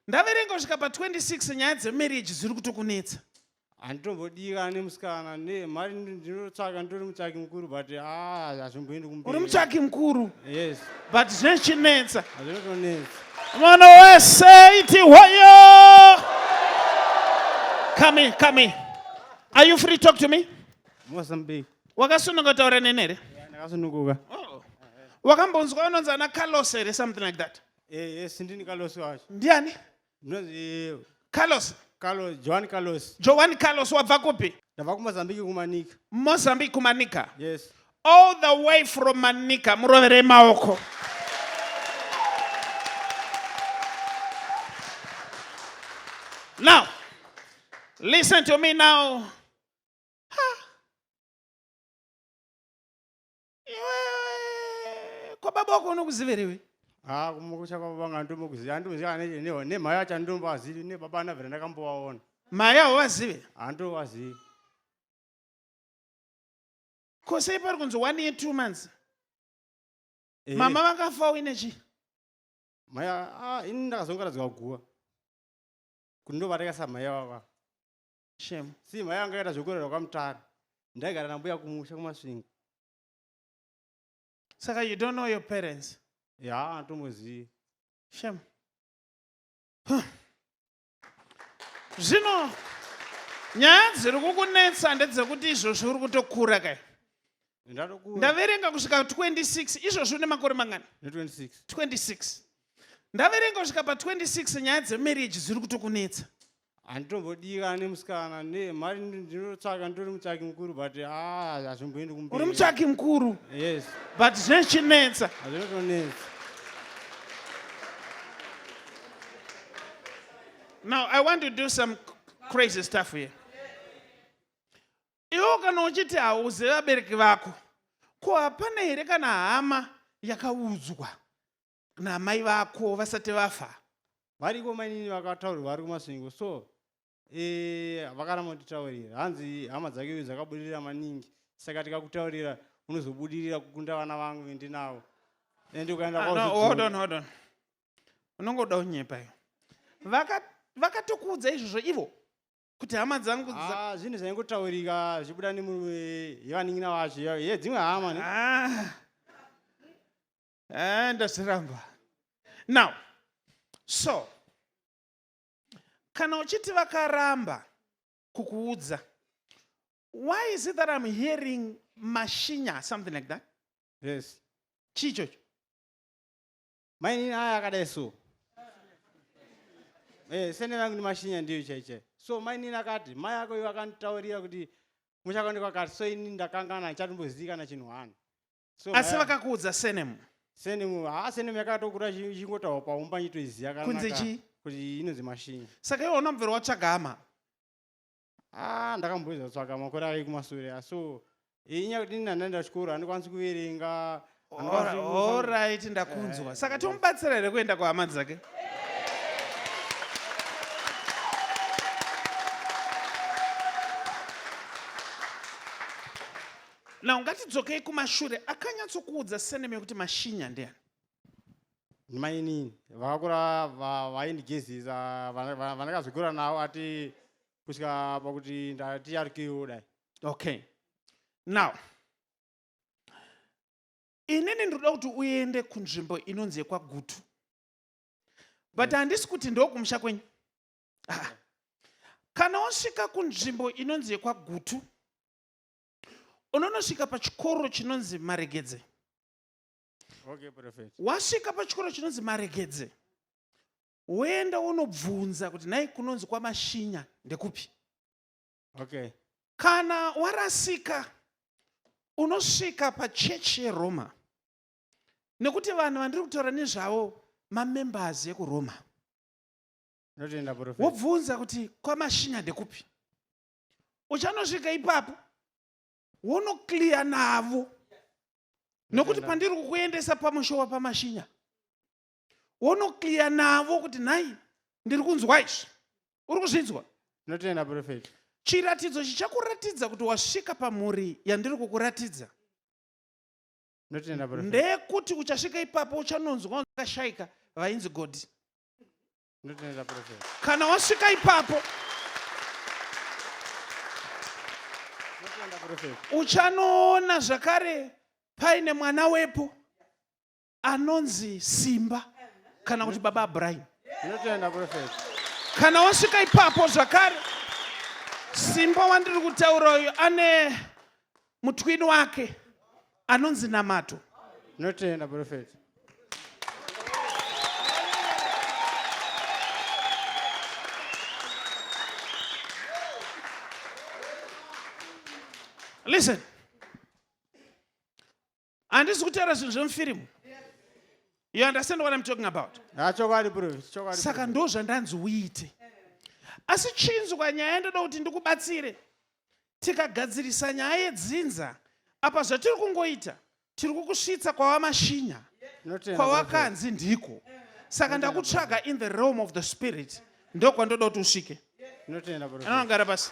Ndaverenga kusvika pa 26 nyaya dze marriage dziri kutokunetsa. Handitombodira ane musikana ne mari ndinotsvaka nditori mutsvaki mukuru but ah hazvimboendi kumberi. Uri mutsvaki mukuru? Yes. But zvinochinetsa. Hazvinotonetsa. Mwana wese iti hoyo. Come in, come in. Are you free talk to me? Mozambique. Wakasununguka taura nene here? Ndakasununguka. Oh. Wakambonzwa unonzi ana Carlos here something like that? Eh, yes, ndini Carlos wacho. ndiani Ndinonzi carlos Carlos, Joan Carlos. joani carlos wabva kupi Ndabva kuMozambique kumanika. mozambique kumanika Yes. all the way from manika muroverei maoko now listen to me now Ha. iwe kwababa wako unokuziverewe ha ah, kumukucha kwababa ngandomukuziva handimuziva aneneho nemhaya acho andombazivi nebaba anavhera ndakambovaona mhaya hauvazive handovazivi ko sei pari kunzi one year two months eh. mama vakafa uine chii mhaya ah, ini ndakazongaradzwa guva kuti ndovareka samhaya vava Shame. See, mai anga akaita zvekurerwa kwamutare. Ndaigara nambuya kumusha kumasvingo. Saka you don't know your parents? Yeah, antomuzivi. Shame. Huh. Zvino nyaya dziri kukunetsa ndedzekuti izvozvi uri kutokura kai ndaverenga kusvika 26 izvozvi une makore mangani 26 26 ndaverenga kusvika pa 26 nyaya dzemarriage dziri kutokunetsa handitombodika nemusikana ne mari ndinotsvaka nditori mutsvaki mukuru but ah, hazvimboendi kumberi uri mutsvaki mukuru yes but zvinochinetsa hazvinotonetsa now i want to do some crazy stuff here iwo kana uchiti hauze vabereki vako ko hapana here kana hama yakaudzwa namai vako vasati vafa variko mainini vakataurirwa vari kumasvingo so eh, vakaramba kutitaurira hanzi hama dzake uyu dzakabudirira maningi saka tikakutaurira unozobudirira kukunda vana vangu vendinavo and ukaenda ah, kwaodon unongoda unyepa iyo vakatokuudza izvozvo ivo kuti hama dzangu ah, zvinhu zvaingotaurika zvichibuda nemurume yevanin'ina vacho ye dzimwe hama ne ah. Eh, ndazviramba now so kana uchiti vakaramba kukuudza why is it that i'm hearing mashinya something like that yes chii chocho mainini aya akadai so eh, sene vangu ni mashinya ndiyo chaichai so mainini akati mai ako ivo akanditaurira kuti muchakondekwa kati so ini ndakangana ndichatombozikana chinhu hwana so asi maya- vakakuudza senemu senemu haa senemu yakatokura ichi- ichingotaurwa paumba nyitoiziya kunze chii kuti inonzi mashinyi saka iwe hauna mubvero watsvaga hama Ah, ndakamboedza kutsvaga makore ake kumasure ah, so eh, inyaya kuti ini handaenda chikoro handikwanisi kuverenga handikwanisi Ora- kufa- orit ndakunzwa Eh, saka eh. tomubatsira here kuenda kuhama dzake Now ngatidzokei kumashure akanyatsokuudza seneme kuti mashinya ndiani? Mainini vakakura vaindigezisa vandakazogura navo ati kusvika pakuti ndatiyarukiwo dai. Okay. Now inini ndinoda kuti uende kunzvimbo inonzi yekwagutu but mm. handisi kuti ndokumusha kwenyu ah. kana wasvika kunzvimbo inonzi yekwagutu unonosvika pachikoro chinonzi maregedze okay, wasvika pachikoro chinonzi maregedze woenda wonobvunza kuti nhai kunonzi kwamashinya ndekupi okay. kana warasika unosvika pachechi yeroma nekuti vanhu vandiri kutaura nezvavo mamembers ekuroma wobvunza kuti kwamashinya ndekupi uchanosvika ipapo wonoclear navo nokuti pandiri kukuendesa pamusho wapamashinya wonoclear navo kuti nhai ndiri kunzwa izvi uri kuzvinzwa ndinotenda profet chiratidzo chichakuratidza kuti wasvika pamhuri yandiri kukuratidza ndeyekuti uchasvika ipapo uchanonzwa vakashaika vainzi godi Ndotenda prophet. Kana wasvika ipapo uchanoona zvakare paine mwana wepo anonzi Simba kana kuti baba Abraham. Ndotenda prophet. Kana wasvika ipapo zvakare Simba wandiri kutaura uyu ane mutwini wake anonzi namato notenda profeti listen handisi kutaura zvinhu zvemufirimu you understand what im talking about ah, saka ndo zvandanzi uite asi chinzwa nyaya ndoda kuti ndikubatsire tikagadzirisa nyaya yedzinza apa zvatiri kungoita tiri kukusvitsa kwawamashinya kwawakanzi ndiko saka ndakutsvaga in the realm of the spirit ndokwandoda kuti usvike anogara pasi